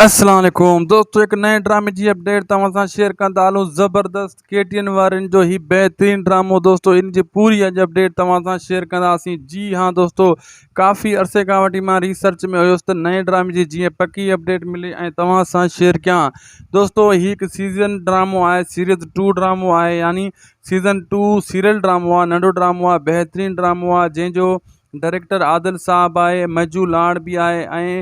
السلام عليڪم دوستو هڪ نئين ڊرامي جي اپڊيٽ توهان سان شيئر ڪندا هلون زبردست ڪي ٽي اين وارين جو هي بهترين ڊرامو دوستو ان جي پوري اڄ اپڊيٽ توهان سان شيئر ڪنداسين جي ها دوستو ڪافي عرصي کان وٺي مان ريسرچ ۾ هيس ته نئين ڊرامي جي جيئن پڪي اپڊيٽ ملي ۽ توهان سان شيئر ڪيان دوستو هي هڪ سيزن ڊرامو آهي سيريز ٽو ڊرامو آهي يعني سيزن ٽو سيريل ڊرامو آهي ننڍو ڊرامو آهي بهترين ڊرامو آهي جنهن جو ڊائريڪٽر عادل صاحب آهي مجو لاڙ به آهي ۽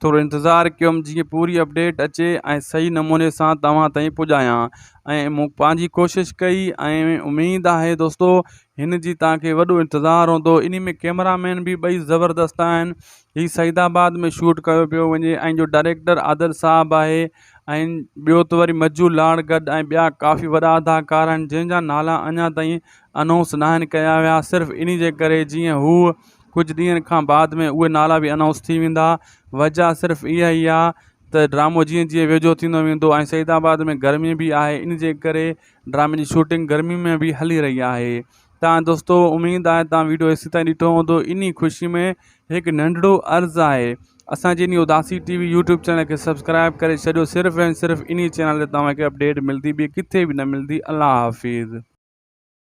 ٿورو انتظار ڪيم جيئن پوري اپڊيٽ اچي ۽ صحيح نموني سان توهان تائين پڄايان ۽ مون پنهنجي ڪوشش ڪئي ۽ اميد آهي دوستو هن جي تان کي وڏو انتظار هوندو انهي ۾ ڪيمرا مين به ٻئي زبردست آهن هي سعيد آباد ۾ شوٽ ڪيو پيو وڃي ۽ جو ڊائريڪٽر عادل صاحب آهي ۽ ٻيو ته وري مجو لاڙ گڏ ۽ ٻيا ڪافي وڏا اداڪار آهن جنهن جا نالا اڃا تائين انائونس ناهن ڪيا ويا صرف انهي جي ڪري جيئن هو ڪجهه ڏينهن کان بعد ۾ اهي نالا به انائونس ٿي ويندا. وجهه صرف اها ئي آ ته ڊرامو جيئن جيئن ويجهو ٿيندو ويندو ۽ سعيد آباد ۾ گرمي به آهي ان جي ڪري ڊرامي جي شوٽنگ گرمي ۾ به هلي رهي آهي ته دوستو اميد آهي توهان ويڊيو ايسي تائين ڏٺو هوندو انهي خوشي ۾ هڪ ننڍڙو عرض آهي اسان جي انهي اداسي ٽي وي يوٽيوب چينل کي سبسڪرائيب ڪري ڇڏيو صرف ۽ صرف انهي چينل تي توهان کي اپڊيٽ ملدي ٻي ڪٿي به نه ملدي الله حافظ.